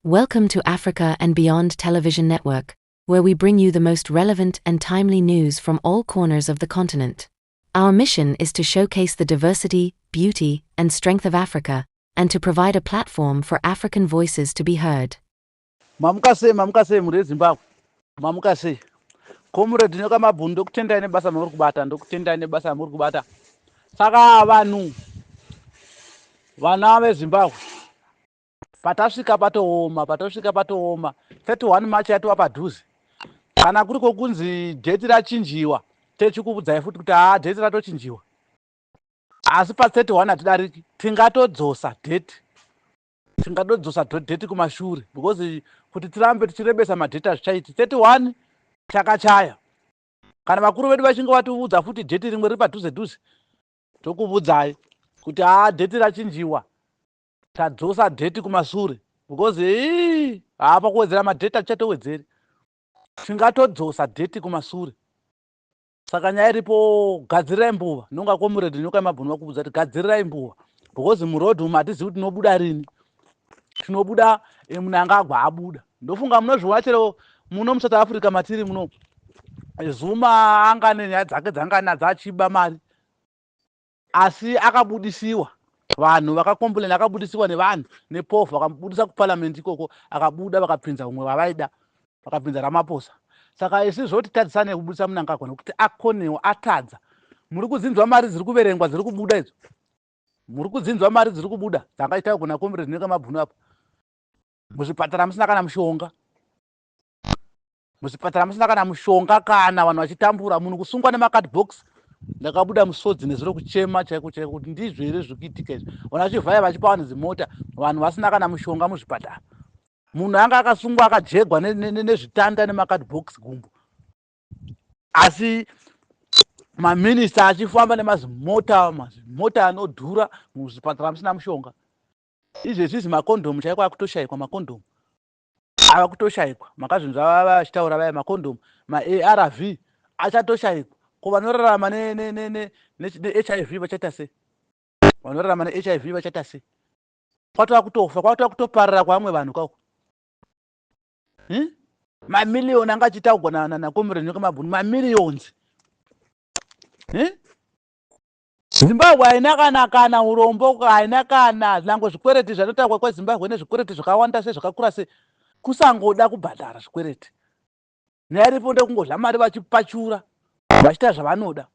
Welcome to Africa and Beyond Television Network, where we bring you the most relevant and timely news from all corners of the continent. Our mission is to showcase the diversity, beauty, and strength of Africa, and to provide a platform for African voices to be heard. Mamuka sei, mamuka sei muri Zimbabwe. Mamuka sei. Comrade Nyoka Mabhunu ndokutendai nebasa mamuri kubata, ndokutendai nebasa mamuri kubata. Saka vanhu vana veZimbabwe Patasvika patooma, patosvika patooma. 31 March yatova padhuze. Kana kuri kokunzi date rachinjiwa, techikuvudzai futi kuti haa date ratochinjiwa. Asi pa 31 hatidariki, tingatodzosa date. Tingatodzosa date kumashure because kuti tirambe tichirebesa madate hazvichaiti. 31 chakachaya. Kana vakuru vedu vachinge vativudza futi date rimwe riri padhuze dhuze, tokuvudzai kuti haa date rachinjiwa. Tadzosa date kumashure because hii haa pakuwedzera madate atichatoedzeri tingatodzosa date kumashure saka nyaya iripo gadzirirai mbuva nonga komuredhi nyoka yemabhunu vakubvudza kuti gadzirirai mbuva because muroad umu hatizivi kuti tinobuda rini tinobuda eh, munangagwa abuda ndofunga munozviona chero muno musouth africa matiri muno eh, zuma anga nenyaya dzake dzanga nadzo achiba mari Asi akabudisiwa vanhu vakacomplain akabudisiwa nevanhu nepofu vakabudisa kuparliament ikoko akabuda vakapinza umwe vavaida vakapinza ramaposa saka isi zvoti tadzisane kubudisa munangagwa nekuti akonewo atadza muri kudzinzwa mari dziri kuverengwa dziri kubuda idzo muri kudzinzwa mari dziri kubuda dzanga itawo kuna comrade neka mabhunu apo muzvipatara musina kana mushonga Muzvipatara musina kana mushonga kana vanhu vachitambura munhu kusungwa nemacard box ndakabuda musodzi nezuro kuchema chaiko chaiko kuti ndizvo here zviri kuitika izvi vanhu vachivhaya vachipa vanhu zimota vanhu vasina kana mushonga muzvipatara munhu anga akasungwa akajegwa nezvitanda nemacard box gumbo asi maminista achifamba nemazimota mazimota anodhura muzvipatara musina mushonga izvezvizi makondomu chaiko akutoshayikwa makondomu ava kutoshaikwa makazvinzwa vava vachitaura vaya makondomu maarv achatoshaikwa ko vanorarama nehiv vachaita sei vanorarama nehiv vachaita sei kwatova kutofa kwatova kutoparara kwavamwe vanhu kako hmm? mamiliyoni anga achitaugwa nakomrenoka mabhunu mamiliyons hmm? Zimbabwe haina kana kana urombo haina kana nyangwe zvikwereti zvatotaurwa kweZimbabwe ine zvikwereti zvakawanda sei zvakakura sei kusangoda kubhadhara zvikwereti nyaya iripo ndekungodya mari vachipachura vachita zvavanoda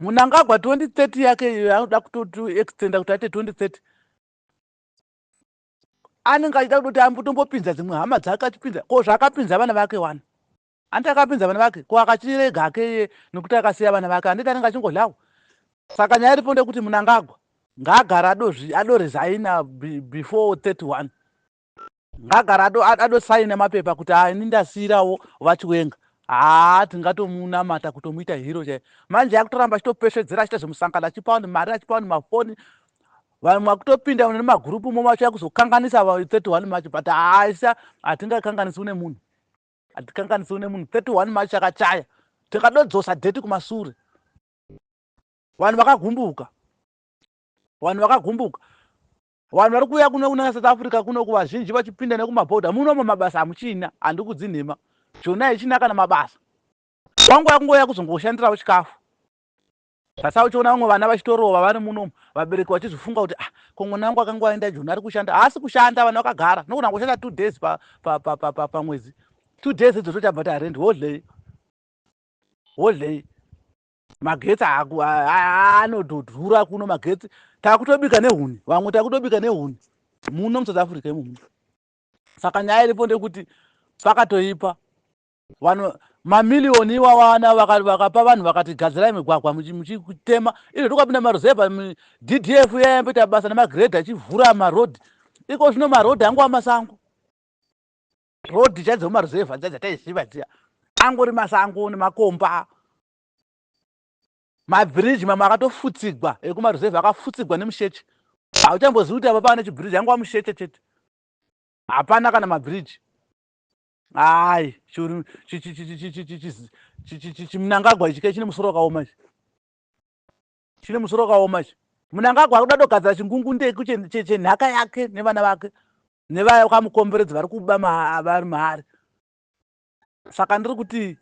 Munangagwa 2030 yake iyo yaanoda kutoextenda kuti aite 2030 anenge achida kutoti ambotombopinza dzimwe hama dzake achipinza ko zvaakapinza vana vake wani Hanti akapinza vana vake ko akatirega hake iye nekuti akasiya vana vake handiti anenge achingodlawo saka nyaya iripo ndeyekuti munangagwa ngaagara adozvi adorezaina before 31 ngagara ado adosaina mapepa kuti haa ini ndasiirawo vachiwenga haa tingatomunamata kutomuita hero chaiyo manje akutoramba achitopesvedzera achiita zvemusangano achipa vanhu mari achipa vanhu mafoni vanhu mwakutopinda nemagurupu momacho yakuzokanganisa 31 macho but haa isa hatingakanganisi une munhu Hatikanganiswe nemunhu 31 March yakachaya tikadodzosa date kumasure. Vanhu vakagumbuka. Vanhu vakagumbuka. Vanhu vari kuuya kuno kuna South Africa kuno kuvazhinji vachipinda nekumaborder muno mamabasa hamuchina handikudzi nhema. Jona ichina kana mabasa. Wangu yakungouya kuzongoshandirawo chikafu. Sasa uchiona vamwe vana vachitorova vari muno umu vabereki vachizvifunga kuti ah ko mwana wangu akanga aenda joni ari kushanda haasi kushanda vana vakagara nokona kushanda two days pamwedzi pa, pa, pa, pa two days idzo tochabva tarendi wodlei wodlei magetsi anodhura kuno magetsi takutobika nehuni vamwe takutobika nehuni muno musouth africa imomu saka nyaya iripo ndekuti pakatoipa Vanhu mamiliyoni iwawa ana vakapa vanhu vakati gadzirai migwagwa muchitema izvo tokapinda maruzevha ddf yayamboita basa nemagredha achivhura maroad iko zvino maroad angova masango road chai dzemumaruzevha dzia dzataiziva dzia angori masango nemakomba mabhiriji mamwe akatofutsigwa ekumaruzevha akafutsigwa nemusheche hauchambozivi kuti apa pava nechibhiriji angova musheche chete hapana kana mabhiriji Hayi churu chimunangagwa ichi kechine musoro wakaoma ichi chine musoro wakaoma ichi munangagwa ari kuda togadzira chingungundeku chenhaka yake nevana vake nevaya kwamukomberedzi vari kuba vari maari saka ndiri kuti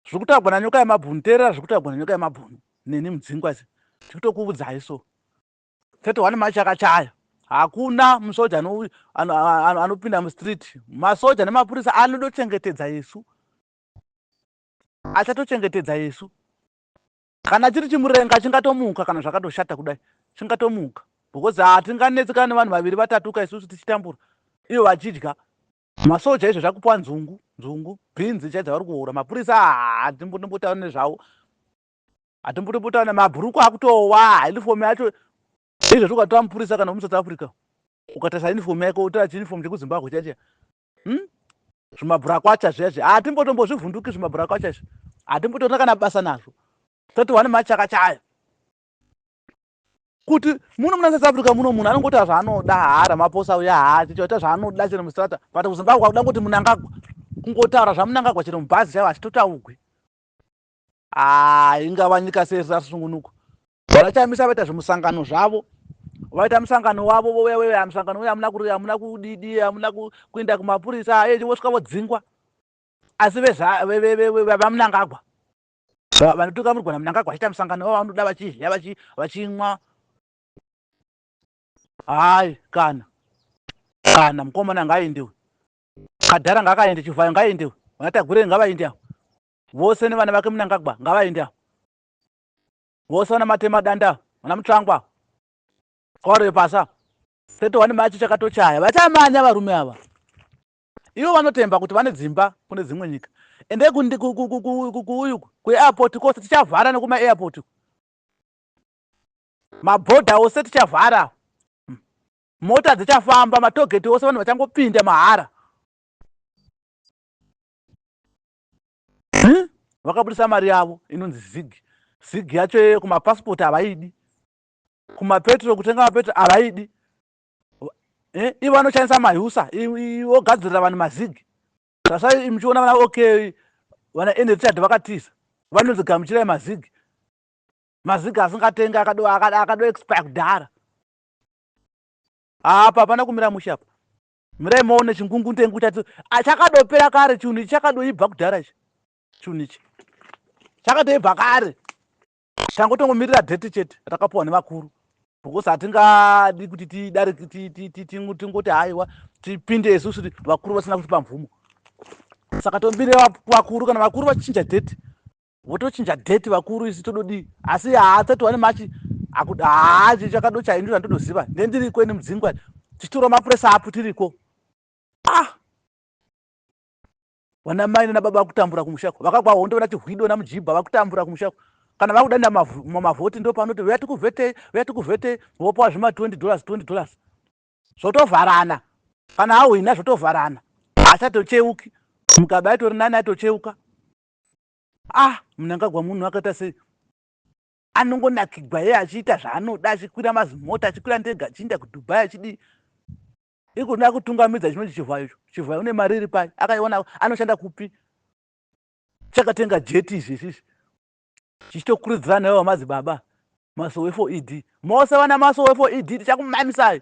zviri kutaurwa nanyoka yemabhunu teerera zviri kutaurwa nanyoka yemabhunu neni mudzingwa zi tiri kutokuudzai so 31 march yakachaya hakuna musoja anopinda mustreet masoja nemapurisa anodochengetedza isu achatochengetedza isu kana chiri chimurenga chingatomuka kana zvakatoshata kudai chingatomuka because hatinganetsekana nevanhu vaviri vatatuka isusu tichitambura ivo vachidya masoja izvo zvakupiwa nzungu nzungu bhinzi chai dzavari kuhura mapurisa hatimbotaura nezvavo Hatimbotopotana mabhurukwa akutowa uniform yacho izvo zvokatwa mupurisa kana muSouth Africa ukatarisa uniform yako utora chiuniform chekuZimbabwe chacho hmm? zvimabhurakwacha zviya zviya hatimbotombozvivhunduki zvimabhurakwacha izvi hatimbotorina kana basa nazvo toti wani machaka chayo kuti muno muna south africa muno munhu anongoita zvaanoda haara maposa uya haachichoita zvaanoda chero mustrata but kuzimbabwe akuda kuti munangagwa kungotaura zvamunangagwa chero mubhazi chaivo hachitotaugwi haa ingava nyika sei risina rusungunuko vana chamisa vaita zvimusangano zvavo vaita musangano wavo vouya veuya musangano uya amuna kuri amuna kudidi amuna kuenda kumapurisa aye vosvika vodzingwa asi vevamunangagwa vanotuka murigwana munangagwa vachiita musangano wavo vanoda vachidya vachimwa hayi kana kana mukomana ngaaendewe kadhara ngaakaende chivhayo ngaaendewe vanatagurei ngavaende avo Vose nevana vake Mnangagwa ngavaende avo. Vose vana matema danda vana mutsvangwa kwaro yepasa 31 machi chakatochaya vachamanya varume ava ivo vanotemba kuti vane dzimba kune dzimwe nyika ende kuuyu kuairport kose tichavhara nekumairport mabhodha ose tichavhara hmm. mota dzichafamba matogeti ose vanhu vachangopinda mahara hmm? vakabudisa mari yavo inonzi zig zig yacho yeye kumapasipoti havaidi kumapetro kutenga mapetro havaidi eh? ivo anoshandisa mahusa ogadzirira vanhu mazig tasai muchiona vana okay vana enrichard vakatiza vanonzi gamuchirai mazig mazig asingatengi akado akado expire kudhara apa hapana kumira mushe apa Mirai maone chingungundengu chati achakadopera kare chinhu ichi chakadoibva kudhara ichi chinhu ichi chakatoibva kare tangotongomirira date chete rakapuwa nevakuru because hatingadi kuti tidare tingoti haiwa tipinde isusu vakuru vasina kutipa mvumo saka tombire vakuru kana vakuru vachinja date votochinja date vakuru isi tododii asi haatsati wane machi akuda haachi chakado chaindu zvandotoziva nendiriko ini mudzingwa tichitora mapuresa apo tiriko ah vana mai nana baba vakutambura kumushako vakagwa hondo vana chihwido na mujibha vakutambura kumushako kana vakuda nda mavhoti ndo panoti uya tikuvhetei uya tikuvhetei vopawa zvima 20 dollars 20 dollars zvotovharana kana ahwina zvotovharana achatocheuki mugabe aitori nani aitocheuka Ah, Mnangagwa munhu akaita sei? Anongonakigwa iye achiita zvaanoda achikwira mazimota achikwira ndega achiinda kuDubai achidii ikuda kutungamidza chinonzi chivhayo icho chivhayo une mari iri pai akaiona anoshanda kupi chakatenga jeti izvi izvizvi chichitokurudzira nayo vamadzibaba masowe for ed mose vana masowe for ed tichakumamisai